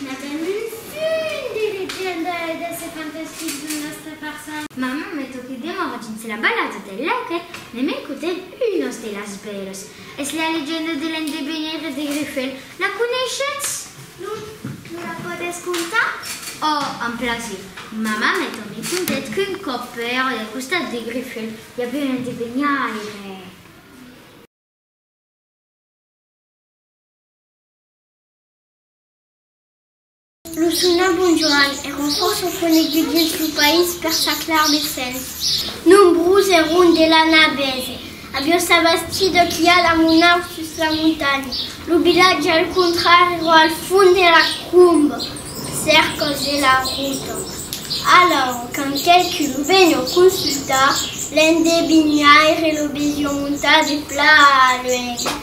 Madame Ursule, didec Jean de hèder se fantastic dins nòstra parça. Maman me toquèt de mòr dins la balada del laguet, me m'encotèt unos de las bèlas. Es la legenda de l'endevenire de Grifèl. La coneishetz? Non, me la podètz contar? Òh, amb plasir. Maman me tornèt contèt qu'un còp pèra del costat de Grifèl i aviá un endeveniaire. Lo sona bon Joan èron fòrça coneguts dins lo país per sa clar de sens. Nombrós èron de l'anar bèse a vieu sa bastida qu'i al amonar sus la montanha. Lo vilatge al contrari èra al fond de la cromba, cerca de la rota. Alòra, quand qualqu'un lo venió consultar, l'endevinhaire lo vesió montar de plan luènh.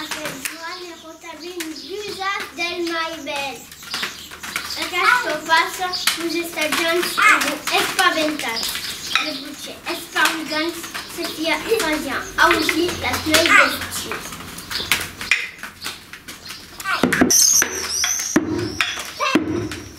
Aquel joan ne rotavin dusas del mai bèls. Aqueste fasa vos estatjant e vos espaventat. Le buche esparrugant se fia fasian ausir las mei bestius.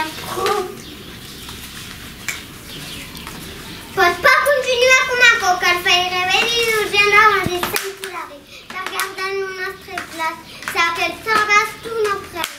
Aquò pòt pas continuar com aquò, cal faire venir d'urgéncia un assistent solari per gardar lo nòstre glaç se aquel sòrt baston o prene.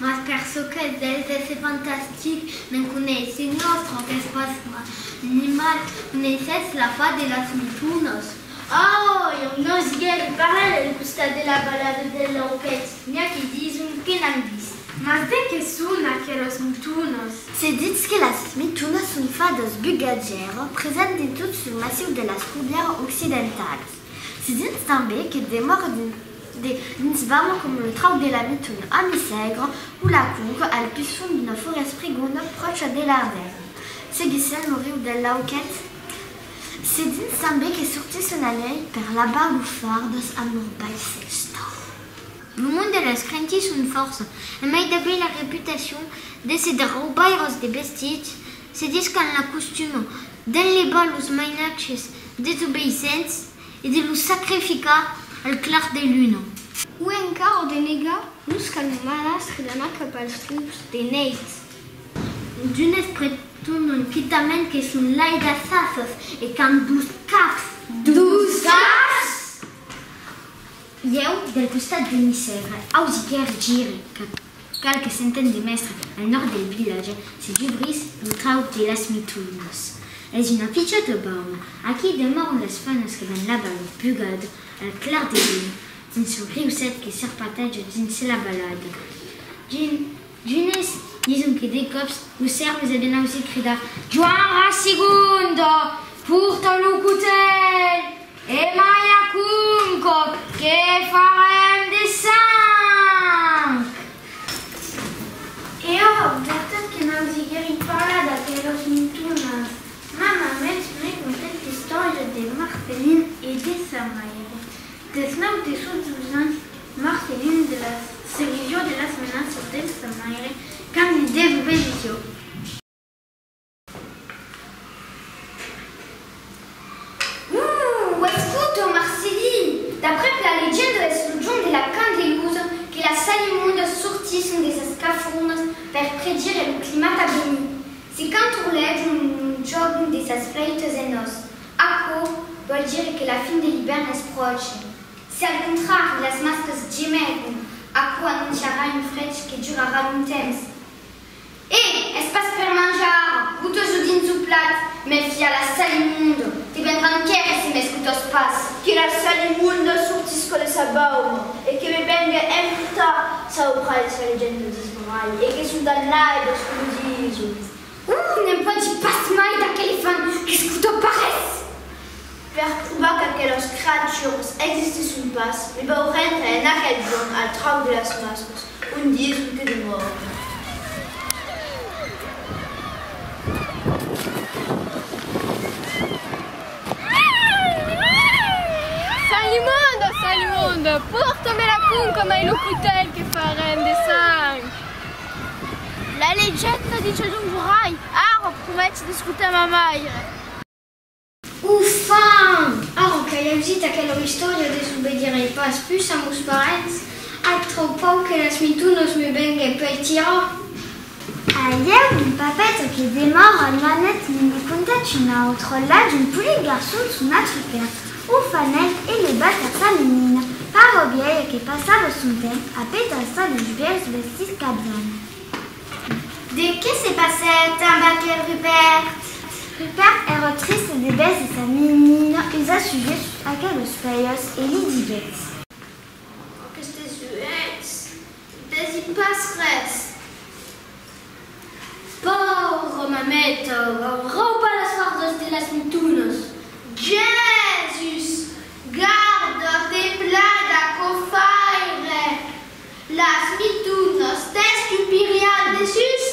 Mas per çò qu'es dels d'èsser fantastic, ne'n coneissin l'autre qu'es pas animal, coneissètz la part de las mitonas? Au! Ieu n'ausièr de parlar del costat de la balada del Lauquet, n'i a que dison que n'an vist. Mas de qué son aquelas mitonas? Se ditz que las mitonas son fadas bugatgèras presents dins tot lo massiu de las Corbièras occidentalas. Se ditz tanben que demòran dins. De dins vam com lo trauc de la nit un ami sègre o la cour al pison d'una forest prigona pròcha de la ren. Seguissèm lo riu del Lauquet. Se dins tanbé que sortís un anèl per labar lo far dos amors baissèls d'òr. Lo mond de las crentis son fòrça e mai debé la reputacion de se de raubaires de bestits se discan la costuma d'enlevar los mainatges desobeissents, E de los sacrificar al clar de luna. O encara de negar los qu'anomanas rilana cap als lups de nèit. D'unes pretonan quitament que son lai d'assassas e qu'an dos caps. Dos caps! Ieu, del costat de Nicère, ausiguèr gire cap. Cal que s'entén de mèstre, al nòrd del vilatge se dubrís lo trauc de las Mitulinas. Es una pichòta baula, aquí demòran las fanas que van lavar lo pugat al clar de luna dins lo riuset que serpateja dins la valada. D'unes dison que de còps lo sèrmes a ben ausir cridar Joan Rassigundo, porta lo cotèl! E mai aquum còth que farem de sang! E ora au vertat que m'an siguerit parlar d'aquelas montonas, ma mamèth me contèt l'istòria de Marcelin e de sa maire. Deth nau de sos dus ans, Marcelin de la serior de las menaças de sa maire quand li deth obedissió. Uuh! Ho es foto, Marceli! D'après la legenda es lo Jon de la Candelusa que las salimudas sortisson de sas cafurnas per predire lo climat a venir. Se canturlèjon lo jorn de sas flèitas en os, aquò vòl dire que la fin de l'ivèrn es pròche. Se al contrari las mascas gemègon, aquò anonciarà un freg que durarà longtemps. E, es pas per manjar ara, bote-s-o dins o plat, mèl fia la sal immonda, te vendran quèrre si m'escotas pas. Que la sal immonda sortisca de sa bauma e que me venga emportar sa obra de sa legenda d'Ismaïl e que son dannaire se lo disa. Ohh! Ne'n pòdi pas mai d'aquel fan qu'escota pas res! Per provar qu'aquelas creatures existisson pas, me vau rendre en aquel jorn al trauc de las mascles, un diesum que demòri. Salimonda, Salimonda, pòrta-me la conca mai lo cotèl que farem de sang. La legenda diches un vorai, ara prometi d'escotar ma maire. Ufam! Ara qu'ai ausit aquela istòria desobedirè pas pus a mos parents, ac tròu pau que las mintunas me vengue pei tirar! Ahieu, mon papeta que demòra al Manet me ne contèt una autra, la d'un polit garçon son atrupèr, ufanèt e levat a sa menina, paura biaia que passava son temps a petar-se los biais vestits qu'avián. De qué se passèt amb aquel Rupèrt? Rupèrt èra triste de vèse sa menina usa suje sus aqueles pèies e li diguèt. Aquestes uelhs ne dèsin pas res. Paura mameta, arròpa las fardas de las mitonas. Jèsus! Garda, fe plada, cofaire! Las mitunhas t'escupirián dessús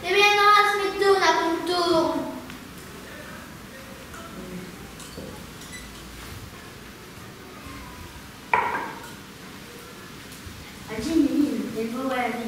e me n'auràs me tornar contorn. Agin, Emil, e vòu èrri.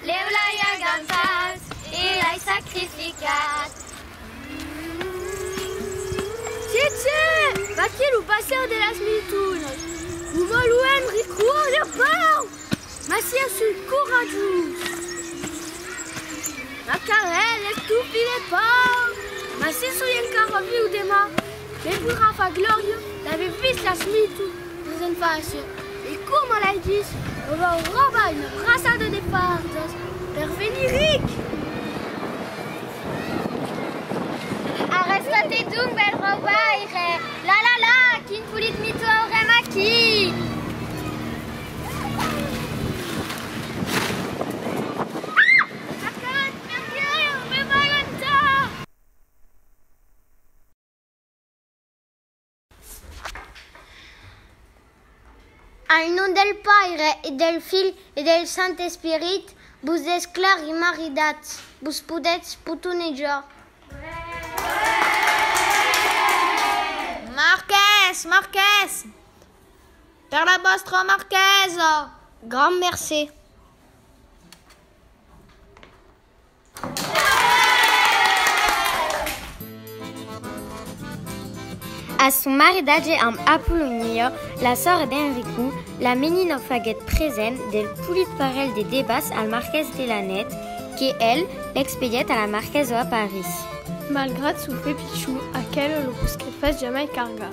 Lèu l'ai agausat e l'ai sacrificat. Tiet, tiet! Vaquí lo passèu de las mil tunas! Lo vòluèm recroar lèu pau! Mas siá sul coratjós! Ma carèl es tu file pau! Mas si soi encara viu demà, me poirà far glòria d'aver vist las mil tunas! Nos en fàcia, e coma l'ai dich, lo vau robar una braçada de pardas per venir ric! Arrèsta-te donc, bèl raubaire! La la la! Quin polit mitou aurem aquí! Al nom del Paire, e del Filh, e del Sant Esperit, vos desclari maridats, vos podètz potonejar. Marqués! Marqués! Per la vòstra marquesa! Grand mercé. A son maridatge amb Apolonio, la sòrre d'Enrico, la menina faguèt present del polit parelh de debas al marqués de Lanèt, que el l'expedièt a la marquèsa a París. Malgrat son pè pichon, aquela lo posquèt pas jamai cargar.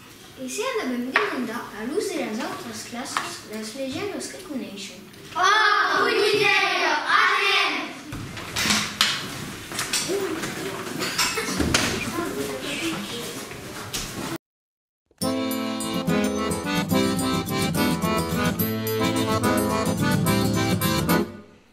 E se anavèm demandar a los de las autras classas las legendas que coneishen? Òc, ui Miseria, anem!